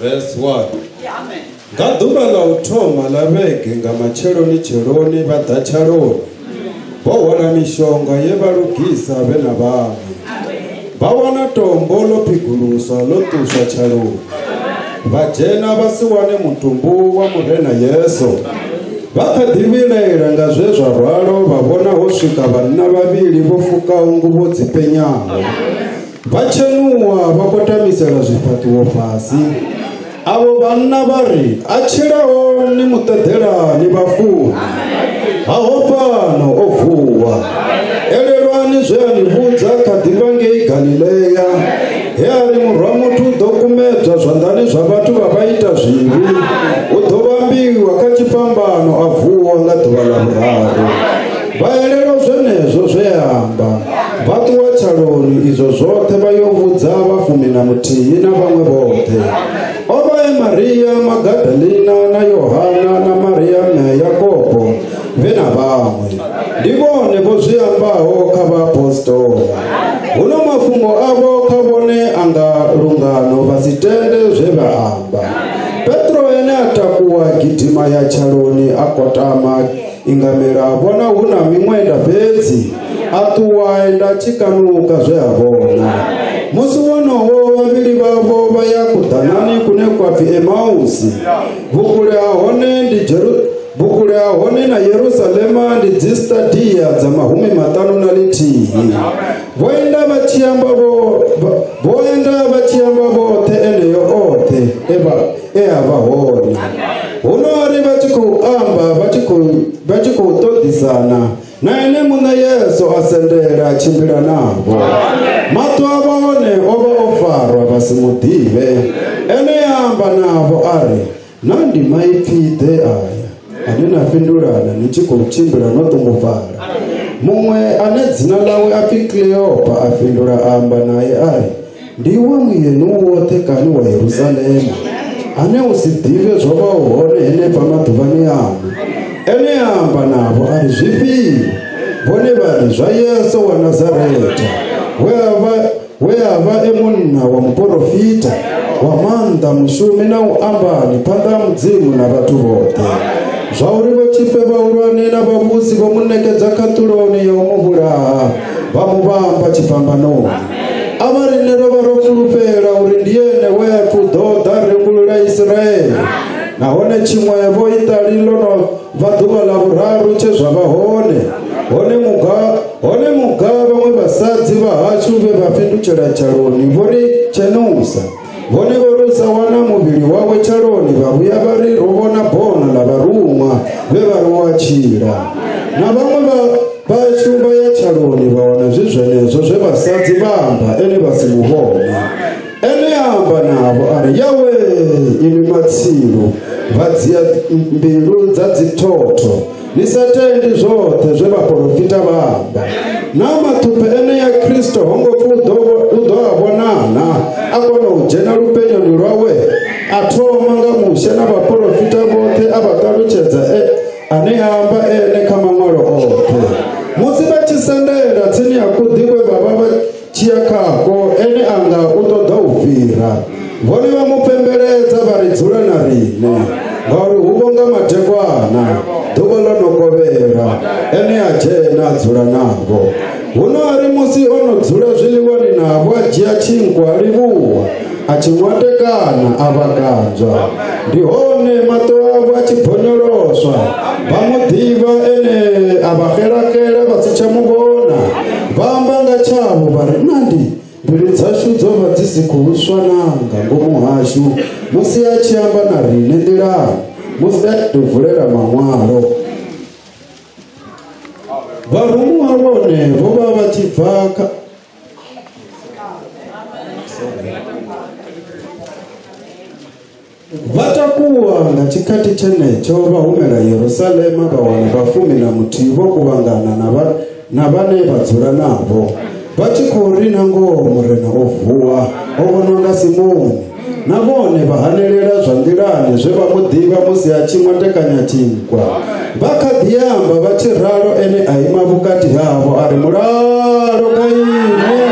Verse 1 Nga ḓuvha ḽa u thoma ḽa vhege nga matsheloni tsheloni vha ḓa tshaloni vho hwala mishonga ye vha lugisa vhe na vhaṅwe vha wana tombo ḽo phiguluswa ḽo ṱuswa tshaloni vha dzhena vha si wane mutumbu wa murena yesu vha kha ḓi vhilaela nga zwe zwa rwalo vha vhona ho swika vhanna vhavhili vho fukaho nguvho dzi penyaho Vhatshenuwa vha khou tamisela zwifhaṱuwo fhasi. Avho vhanna vha ri, A tshilaho ni mu ṱeḓela ni vha funi. Ha ho fhano o vuwa. Elelwani zwe a ni vhudza kha ḓi vha ngei Galilea. He a ri murwa muthu u ḓo kumedzwa zwanḓani zwa vhathu vha vha ita zwivhi. U ḓo vhambiwa kha tshifhambano a vuwa nga ḓuvha ḽa vhuraru. vha elelwa zwenezwo zwe a amba vha ṱuwa tshaloni izwo zwoṱhe vha yo vhudza vhafumi na muthihi na vhaṅwe vhoṱhe o vha e maria magadalina na yohana na maria mme yakobo vhe na vhaṅwe ndi vhone vho zwi ambaho kha vhaapostola huno mafhungo avho kha vhone a nga lungano vha si tende zwe vha amba petro ene a takuwa gidima ya tshaloni a kotama Ingamela a vhona hu na miṅwenda fhedzi a ṱuwa enda tshi kanuka zwe a vhona musi wonoho vhavhili vhavho vha ya kuḓanani kune kwa pfi emausi vhukule ha hone ndi jeru vhukule ha hone na yerusalema ndi dzistadiya dza mahumi maṱanu na lithihi vho enda vha tshi amba vho vho enda vha tshi amba vhoṱhe eneyo oṱhe e vha e a vha hone huno a ri vha tshi khou amba vha tshi khou vha tshi khou ṱoḓisana na ene muṋe yesu a sendela tshimbila navho maṱo a vha hone o vha o farwa vha si mu ḓivhe ene a amba navho a ri na ndi maipfi ḓe aya ane na fhindulana ni tshi khou tshimbila no ṱungufhala muṅwe ane dzina ḽawe a pfi kleopa a fhindula a amba naye a ri ndi iwe muyeni u woṱhe kani wa yerusalema ane u si ḓivhe zwo vhaho hone henefha maḓuvhani amu ene a amba navho a ri zwifhio vhone vha ri zwa yesu wa nazaretha we a vha we a vha e munna wa muporofita wa maanḓa mushumi na u ambani phanḓa ha mudzimu na vhathu vhoṱhe zwa uri vhotshifhe vhahulwane na vhavhusi vho mu ṋekedza khaṱuloni ya u mu vhulaha vha mu vhamba tshifhambanoni a vha riṋe ro vha ro fulufhela uri ndi ene we a pfi u ḓo ḓa rembulula isiraele nahone tshiṅwevho iṱali ḽo no bva ḓuvha ḽa vhuraru tshe zwa vha hone hone muga hone muga vhaṅwe vhasadzi vha hashu vhe vha fhindutshela tshaloni vho ri tshenusa vhone vho rusa wana muvhili wawe tshaloni vha vhuya vha ri ro vhona bono ḽa vharuṅwa vhe vha ri wa tshila na vhaṅwe vha vhashu vha ya tshaloni vha wana zwi zwenezwo zwe vhasadzi vha amba ene vha si mu vhone ene ya amba navho a ri yawe inwi matsilu vha dzia mbilu dza dzithotho ni sa tendi zwoṱhe zwe vhaporofita vha amba na mathuphe ene ya kristo ho ngo pfi u ḓo a vhonana a kona u dzhena lupenyoni lwawe a thoma nga mushe na vhaporofita vhoṱhe a vha ṱalutshedza e, ane a amba ene kha maṅwalo oṱhe musi vha tshi sendela tsini ya kuḓi kwe vha vha Tshiakhako ene a nga u ṱoḓa u fhira. Vhone vha mu pembeledza vha ri dzula na riṋe ngauri hu vho nga madekwana ḓuvha ḽo no kovhela ene a dzhena a dzula navho. Huno a ri musi o no dzula zwiḽiwani navho a dzhia tshinkwa a livhuwa a tshi ṅwatekana a vha kanzwa. Ndi hone maṱo avho a tshi bonyoloswa vha mu ḓivha ene a vha xelaxela vha si tsha mu vhona. vha amba nga tshavho vha ri na ndi mbilu dzashu dzo vha dzi si khou swana nga ngomu hashu musi a tshi amba na riṋe nḓilani musi a tshi vulela maṅwalo vharumuwa vhone vho vha vha tshi bva kha vha takuwa nga tshikhathi tshenetsho vha humela yerusalema vha wana vhafumi na muthihi vho kuvhangana na vhane vha dzula navho vha tshi khou ri na ngoho murena o vuwa o vhonwa nga simoni na vhone vha hanelela zwa nḓilani zwe vha mu ḓivha musi a tshi mwatekanya tshinkwa vha kha ḓi amba vha tshi ralo ene a ima vhukati havho a ri mulalo kha ine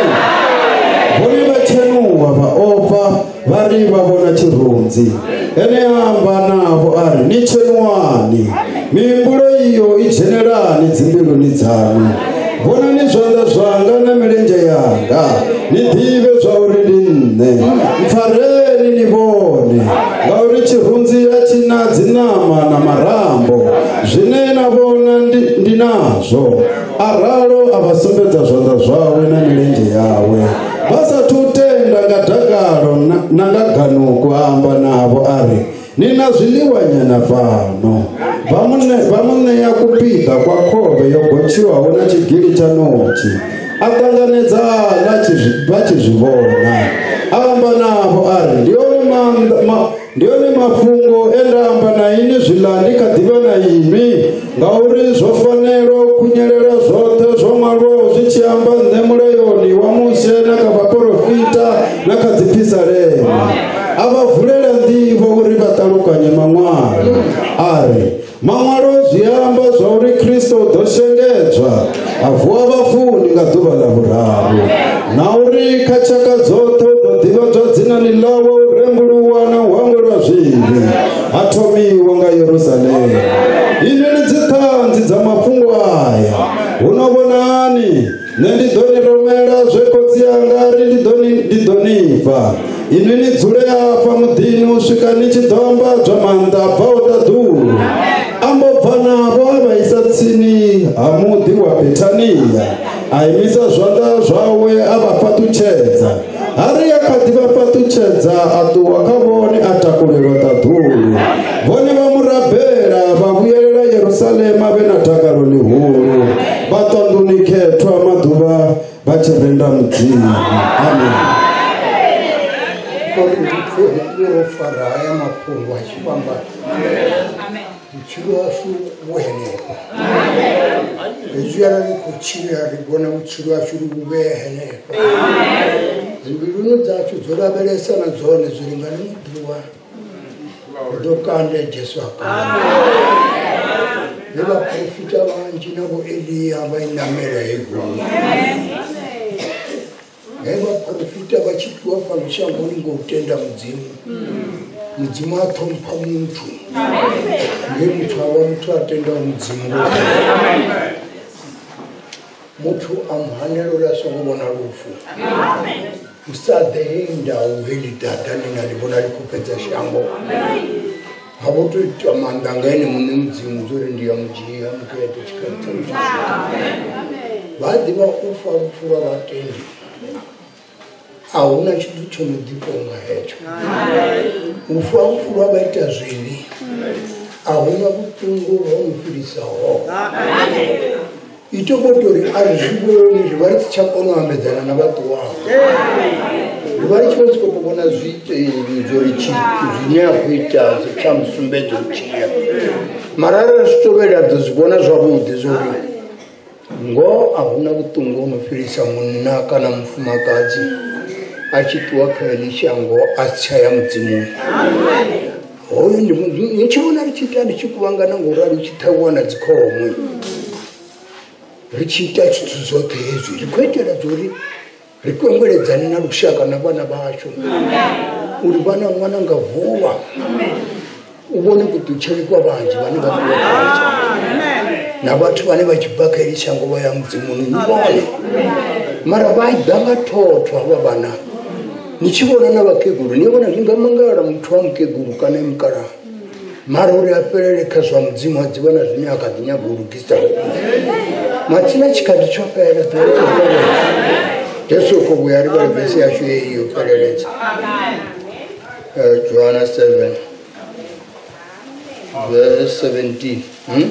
vha ri vha vhona tshirunzi ene a amba navho a ri ni tshenuwani mihumbulo iyo i dzhenelani dzimbiluni dzanu vhonani zwanḓa zwanga na milenzhe yanga ni ḓivhe zwa uri ndi nṋe mpfareni ni vhone ngauri tshirunzi a tshi na dziṋama na marambo zwine na vhona ndi nazwo a ralo a vha sumbedza zwanḓa zwawe na milenzhe yawe vha sa thu tenda nga dakalo na nga ganuku a amba navho a ri ni na zwiḽiwanyana fhano vha mu ṋea kupiḓa kwa khovhe yo gotshiwaho na tshigili tsha notshi a ṱanganedza vha tshi zwi vhona a amba navho a ri ndi one maanḓa Ndi one mafhungo e nda amba na ini zwiḽa ndi kha ḓi vha na imi, ngauri zwo fanela u khunyelela zwoṱhe zwo ṅwalwaho zwi tshi amba nṋe mulayoni wa Mushe na kha vhaporofita na kha dziphisalema. A vha vulela nḓivho uri vha ṱalukanye maṅwalo. A ri, Maṅwalo zwi amba zwa uri Kristo o ḓo shengedzwa a vuwa vhafuni nga ḓuvha ḽa vhuraru na uri kha tshaka dzoṱhe u ḓo ḓivhadzwa dzinani ḽawe u rembuluwa na u hangwelwa zwivhi ha thomiwa nga Yerusalema. Inwi ni dziṱhanzi dza mafhungo aya. Huno vhonani nṋe ndi ḓo ni rumela zwe khotsi anga ri ndi ḓo ni ndi ḓo ni fha inwi ni dzule afha muḓini u swika ni tshi ḓo ambadzwa maanḓa a bvaho ṱaḓulu ambo bva navho a vha isa tsini ha muḓi wa bethania a imisa zwanḓa zwawe a vha fhaṱutshedza Hari a kha ḓi vha fhaṱutshedza a ṱuwa kha vhone a takulelwa ṱaḓulu. Vhone vha mu rabela vha vhuyelela Yerusalema vhe na dakalo ḽihulu. Vha ṱanḓuni khethwa maḓuvha vha tshi renda Mudzimu. Amen. Kopi ro fara haya mafhungo a tshifhambano. Amen. vhutshilo hashu vhu henefha hezwi arali khou tshila ri vhona vhutshilo hashu ri vhu vhee henefha dzimbiluni dzashu dzo lavhelesa na dzone zwi lingane muḓiwa ri ḓo kande jesu apa le vaprofita vanji na vo eliya va yi namela hi gumi he vhaporofita vha tshi fhiwa fhano shangoni ngo u tenda mudzimu mudzimu a ṱhompha muthu nge muthu a vha muthu a tendaho mudzimu muthu a muhanela uri a songo vhona lufu usa ḓe hei ndau heli dada ni nga ḽi vhona ḽi khou fhedza shango ha vho tou itwa maanḓa nga ene muṋe mudzimu zwo ri ndi ya mudzhia muthu ya ḓo tshikalitsa vha ḓivha u fa lufu lwa vhatendi a hu na tshithu tsho no ḓifho nga hetsho u fa lufu lwa vha ita zwivhi a hu na vhuṱungu ho no fhirisaho itobotori a ri zwi vhoni ri vha ri si tsha kona u ambedzana na vhaṱuwao ri vha ri tshi vha tshi khou to vhona zwiteli zwo ri zwine a khou ita kha musumbedzo tshia mara ri zwi tovhela ḓo zwi vhona zwavhuḓi zwo ri ngoho a hu na vhuṱungu ho no fhirisa munna kana mufumakadzi a tshi ṱuwa kha ḽi shango a si tsha ya mudzimuni hoyo ndi mu- mu- ni tshi vhona ri tshi ita ri tshi kuvhangana ngo rali ri tshi ṱhavhiwa na dzikhomwe ri tshi ita zwithu zwoṱhe hezwi ri khou itela dzori ri kwengweledzane na lushaka na vhana vhashu uri vhana ṅwana nga vuwa u vhone kuṱutsheli kwa vhanzhi vhane vha khou vhatsha na vhathu vhane vha tshi bva kha ili shango vha ya mudzimuni ni vhone mara vha ḓa nga thotho havha vhana ni tshi vhona na vhakegulu ni vhona zwi nga mangala muthu wa mukegulu kana e mukalaha mara uri a fhelele kha zwa mudzimu a dzivha na zwine a kha ḓi nyaga u lugisa matsina tshikhathi tsho fhela jesu kho vhuya ri vhale vesi yashu yeyi yo fheleledza eh, johana 7 verse 17 hmm?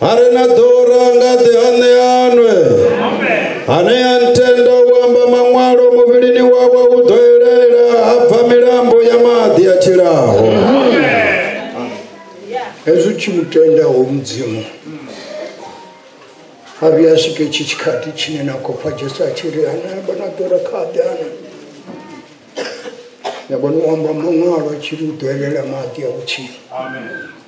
a re na ḓora nga ḓi a ṋeanwe ane a ntenda u amba maṅwalo muvhilini wawe u ḓo elela ha bva milambo ya maḓi a tshilaho hezwi u tshi mu tendaho mudzimu a vhuya a swike tshi tshikhathi tshine na khou pfa jesu a tshi ri ane amba na ḓora kha ḓi ana ya vhona u amba maṅwalo a tshi ri u ḓo elela maḓi a vhutshilo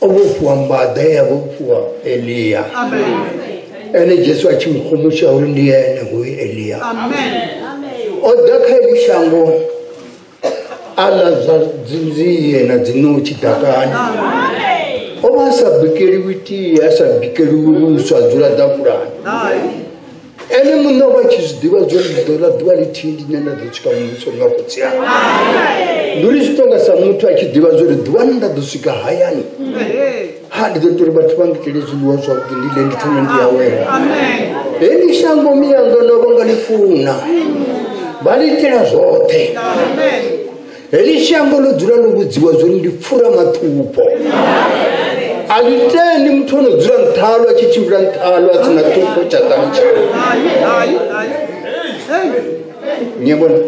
o vhofhiwa mbaḓa ya vhofhiwa eliya ene jesu a tshi mu khomusha uri ndi ene hoyu eliya o ḓa kha eli shango a ḽa zwa dzinzie na dzinotshi ḓakani o vha a sa bikeliwi tie a sa bikeliwi vhuswa dzula ḓafulani ene muṋe wa tshi zwi ḓivha zwo ri ḓo ḽa ḓuvha lithihi ndi ne nda ḓo swika muvhuso nga khotsi yanga ndi uri zwi tonga sa muthu a tshi ḓivha zwo ri ḓuvha ni nda ḓo swika hayani ha ndi ḓo ita uri vhathu vha ngitele zwiḽiwa zwavhuḓi ndi ḽe ndi thome ndi awela hei ndi shango miyanga no vho nga ḽi funa vha ḽi itela zwoṱhe heli shango ḽo dzula ḽo vhudziwa zwori ndi pfura maṱhupho a ḽi tendi muthu ono dzula nṱhalo a tshi tshimbila nṱhalo a sina ṱhupho tsha ṱani tshawe nyabona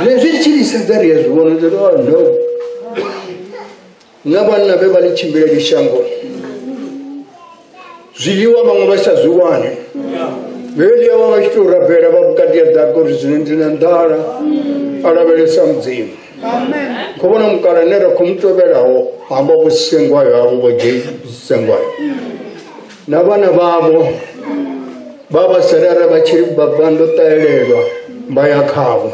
ne zwi tshi ḽisedza ri a zwi vhona zwo oh, no na vhanna vhe vha ḽi tshimbileli shango zwiḽiwa vhaṅwe vha sa zwi wane vheli avha vha tshi tou rabela vha vhukati ya ḓaka uri zwino ndi na nḓala a lavhelesa mudzimu kho vhona mukala ne ra khou mu tovhelaho hamba vho sengwayo havho vho dzhei sengwayo na vhana vhavho vha vha salala vha tshi vha ndo ṱahelelwa vha ya khavho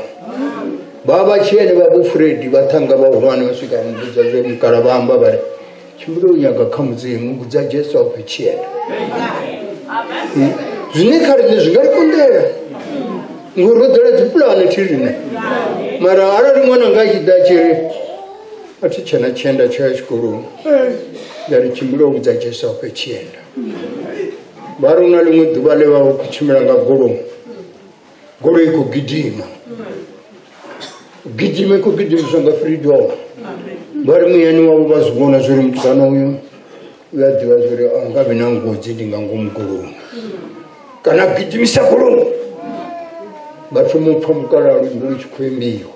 vha vha tshi ene vha vhofuredi vha thanga vhahulwane vha swika muvhudza zwe mukala vha amba vha ri tshimbile u nyaga kha mudzimu vhudza jesu a khou tshi ene hmm? zwine kha riṋe zwi nga ri konḓela ngori ro ḓela dzipulane thi riṋe mara arali ṅwana nga a tshi ḓa tshi ri a thi tshena tshienda tsho ya tshikoloni nda ri tshimbile u vhudza jesu a khou tshienda vha ri u na ḽiṅwe ḓuvha ḽe vha vha khou tshimbila nga goloi Ngori i khou gidima gidima i khou gidimiswa nga freedom vha ri muyani wavho vha zwi vhona zwo ri mutukana uyu u a ḓivha zwo ri a nga vhi na ngozi ndi nga ngomu goloni kana gidimisa goloni vha thoma u pfha mukalalo ndi tshi khou imbiwa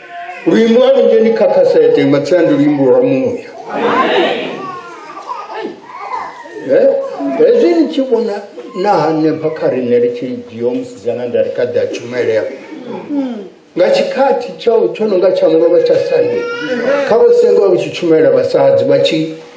luimbo lwanu nje ni kakasete matsia ndi luimbo lwa muya Eh, hezwi ni tshi vhona na hanefha kha riṋe ri tshi dzhio musidzana nda ri kha ḓa tshumelea nga tshikhathi tsha tsho no nga tsha mulovha tsha sande kha vho sengo vha vhu tshi tshumela vhasadzi vha tshi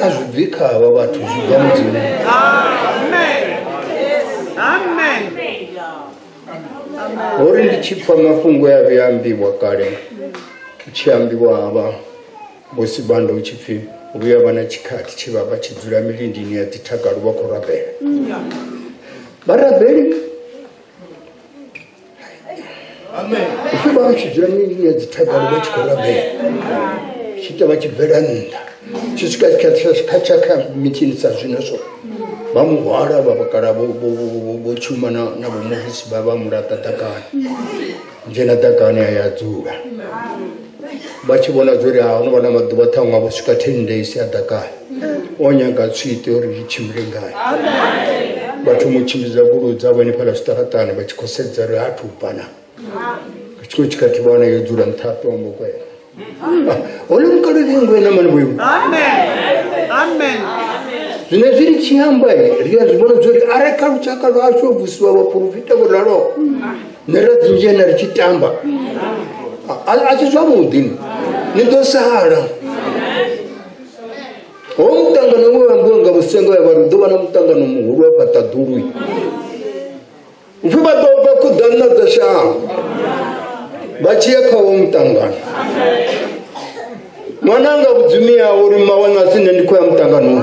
a zwi bvi kha havha vhathu zwi bva mudzimu ho ri ndi tshi pfa mafhungo ya vhe ambiwa kale u tshi ambiwa havha vho sibanda u tshi pfi vhuya vha na tshikhathi tshi vha vha tshi dzula milindini ya dzithagalo vha khou rabela vharabeli upfi vha tshi dzula miya dzithadalo vha tshi khou rabela tshi ita vha tshi bvela nnḓa tshi swika kha tsha kha mitshini sa zwino so vha mu hwala vha vhakala vho tshuma na vhomusi vha vha mulaṱa ḓakani dzhena ḓakani a ya dzula vha tshi vhona zwo ri ha no vha na maḓuvha ṱhaṅwe vho swika ten days a ḓakale o nyaga tswiṱe uri zwi tshimbile ngayo vhathu mu tshimbidza goloi dzavho hanefhala zwiṱaraṱani vha tshi khou sedza ri hathu u bana vha tshi khou tshikhathi vha wana yo dzula nṱha a tombo kwena hone mukalolengwe na mani vhoiwe zwine zwi ri tshi amba ri a zwi vhona zwo ri arali kha lushaka lwashu o vusiwa vhaporofita vho raloho nṋe ro dzinzhena ri tshi tamba a si zwavhuḓi ni ḓo sala ho muṱangano we wambiwa nga vhusengo ya vhari hu ḓo vha na muṱangano muhulu wa fhaṱa ḓului upfhi vha ḓo bva khuḓanna dza shango vha tshi ya kha wo muṱangano ṅwana anga vhudzumi yawo uri mawana a si nṋe ndi khou ya muṱanganoni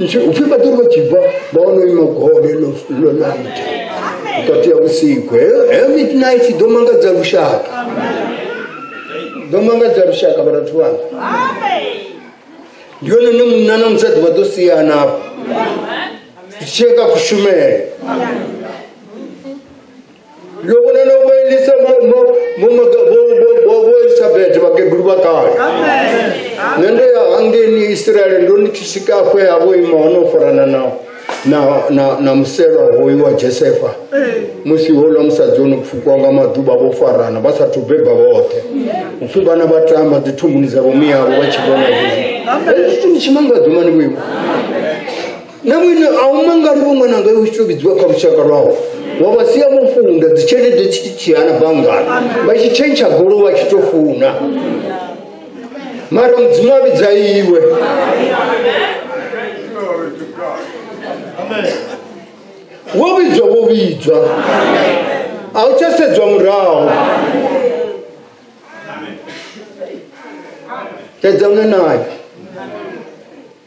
ichi upfi vhatori vha tshi bva vha wana ima gole ḽo laita vhukati ya vhusiku heyo midnight ḓo mangadza lushaka ḓo mangadza lushaka vharathu vhanga ndi yone ne munna na musadzi vha ḓo siyana afho zwi tsheka kushumele lukuna na kuelisa boisabete bakegulu bakale nende yahangeni israele ndo nikishikakwe yabo imaono forana nao na, na, na msero hoyu wa josefa musi hola musadzi ono pfukwanga maduba vho farana vha sathu beba vhoṱhe upfi vhana vha tamba dzithunguni dzavho miyavo vha tshi vhona zwithu ni tshimangadzi mani vhoiwe na mwine a u mangali vho ṅwananga yo tshi vhidziwa kha lushaka lwawo wa vha sia vho funda dzitshelede tshi tshiana banngani vha tshi tshentsha golo vha tshi to funa mara mudzimu a vhidza iwe wo vhidzwa wo vhidzwa a u tsha sedzwa murahu sedzana nayo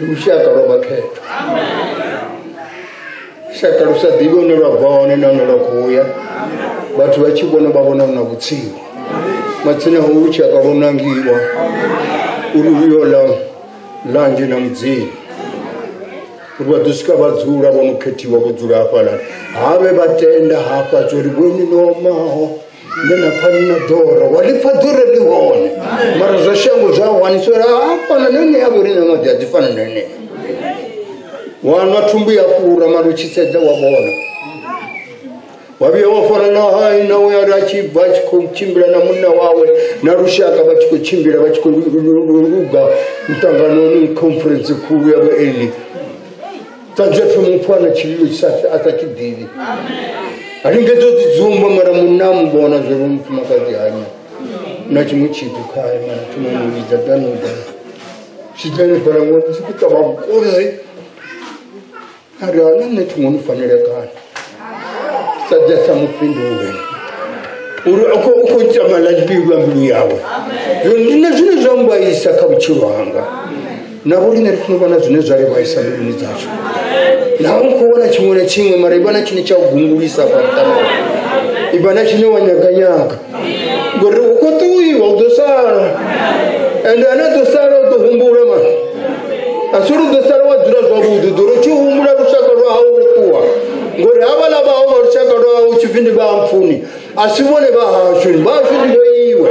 ndi lushaka lwa vhakhetho lushaka lu sa ḓivhi hune lwa bva hone nahone lwa khou ya vhathu vha tshi vhona vha vhona na vhutsilu matsina ho lushaka lwo nangiwa uri luyo ḽa ḽanzhe na mudzimu uri vha ḓo swika vha dzula vho no khethiwa vho dzula hafhaḽa ha vhe vha tenda hafha zwo ri vhoni nomaho nge na pfa ni na ḓora wa ḽi pfa ḓure ḽi hone mara zwa shango zwa hwanisela hafana na enea vho rine maḓi a dzi fana na enea wanwa thumbu ya fura mara u tshi sedza wa vhona wa vhuya wa fana na hai na we ari a tshi bva a tshi khou tshimbila na munna wawe na lushaka vha tshi khou tshimbila vha tshi khou luga muṱanganoni conference khulu ya vhaeli tanzapfe mupfu ana tshivhiyo tshisapfi a sa tshi ḓivhi a lingedza u ḓidzumba mara munna a muvhona zwo ri mufumakadzi hanya na tshiṅwe tshithu khae mara thoma mu vhidza danoda tshidane fhala ngo ndi tshi khou ṱavha mukozi a ri ana nṋe thungo ni fanele kana sadza mufhindule uri u khou ita malabilu a mbilu yawe nṋe zwine zwa mbaisa kha vhutshilo hanga navo rine ri funa vhona zwine zwa ri vhaisa mbiluni dzashu naho u khou vhona tshiṅwe na tshiṅwe mara i vhona tshine tsha u gungulisa fha muṱana i vhona tshine wa nyaganyaga ngori u khou ṱuwiwa u ḓo sala ende ane ḓo sala u ḓo humbula mani a si uri u ḓo sala wa dzula zwavhuḓi ḓo ri tshi humbula lushaka lwa hau lu ṱuwa ngori havhala vha hau vha lushaka lwa hau tshipfi ndi vha mpfuni a si vhone vha hashu vha hashu ndi vho iwe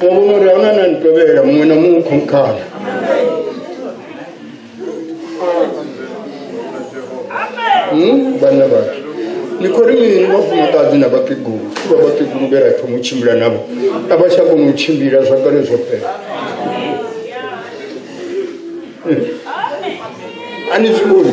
Paulo ri onana ni tovhela muṅwe na muṅwe khomkhana Hmm, vhanna vhathu ni khou ri mini vhafumakadzi na vhakegulu vha vhakegulu vhe ra thoma u tshimbila navho a vha tsha kona u tshimbila zwa kale zwo fhela a ni zwi vhoni